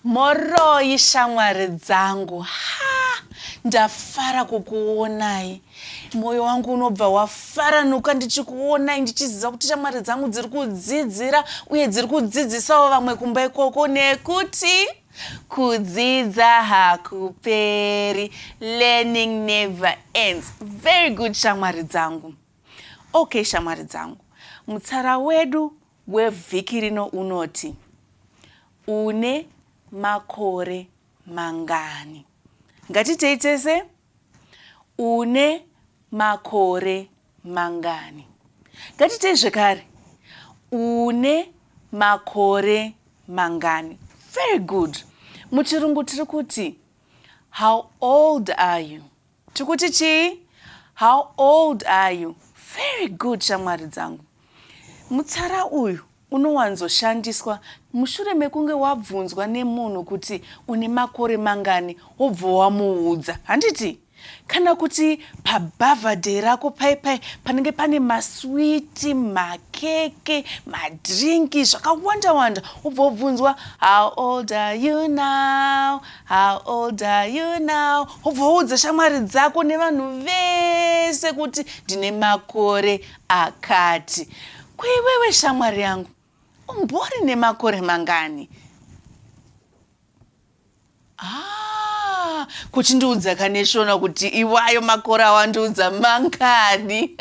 Moroyi shamwari dzangu ha ndafara kukuonai mwoyo wangu unobva wafaranuka ndichikuonai ndichiziva kuti shamwari dzangu dziri kudzidzira uye dziri kudzidzisawo vamwe kumba ikoko nekuti Kudzidza hakuperi, learning never ends. Very good shamwari dzangu. Okay shamwari dzangu, mutsara wedu wevhiki rino unoti une makore mangani? Ngatitei tese. Une makore mangani? Ngatiitei zvekare. Une makore mangani? Very good. Muchirungu tiri kuti how old are you? Tiri kuti chii? How old are you? Very good, shamwari dzangu. Mutsara uyu Unowanzoshandiswa mushure mekunge wabvunzwa nemunhu kuti une makore mangani wobva wamuudza, handiti? Kana kuti pabhavhadheyi rako paye paye panenge pane maswiti, makeke, madhiringi zvakawanda wanda wobva wobvunzwa how old are you now? How old are you now? Wobva woudza shamwari dzako nevanhu vese kuti ndine makore Akati, Ko iwewe shamwari yangu umbori nemakore mangani? Ah, kuchindiudza kaneshona kuti iwayo makore awandiudza mangani?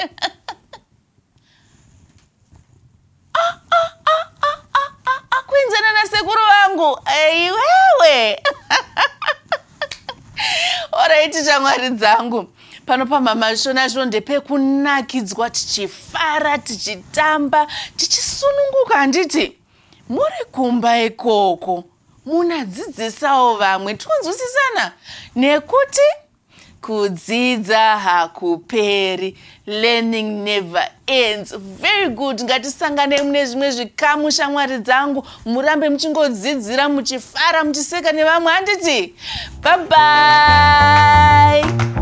kuenzana nasekuru vangu iwewe oraiti shamwari dzangu pano pamama shona zvino ndepekunakidzwa tichifara tichitamba tichisununguka handiti muri kumba ikoko munadzidzisawo vamwe tonzwisisana nekuti Kudzidza hakuperi, learning never ends. Very good, ngatisanganei mune zvimwe zvikamu shamwari dzangu, murambe muchingodzidzira muchifara muchiseka nevamwe handiti? Bye bye.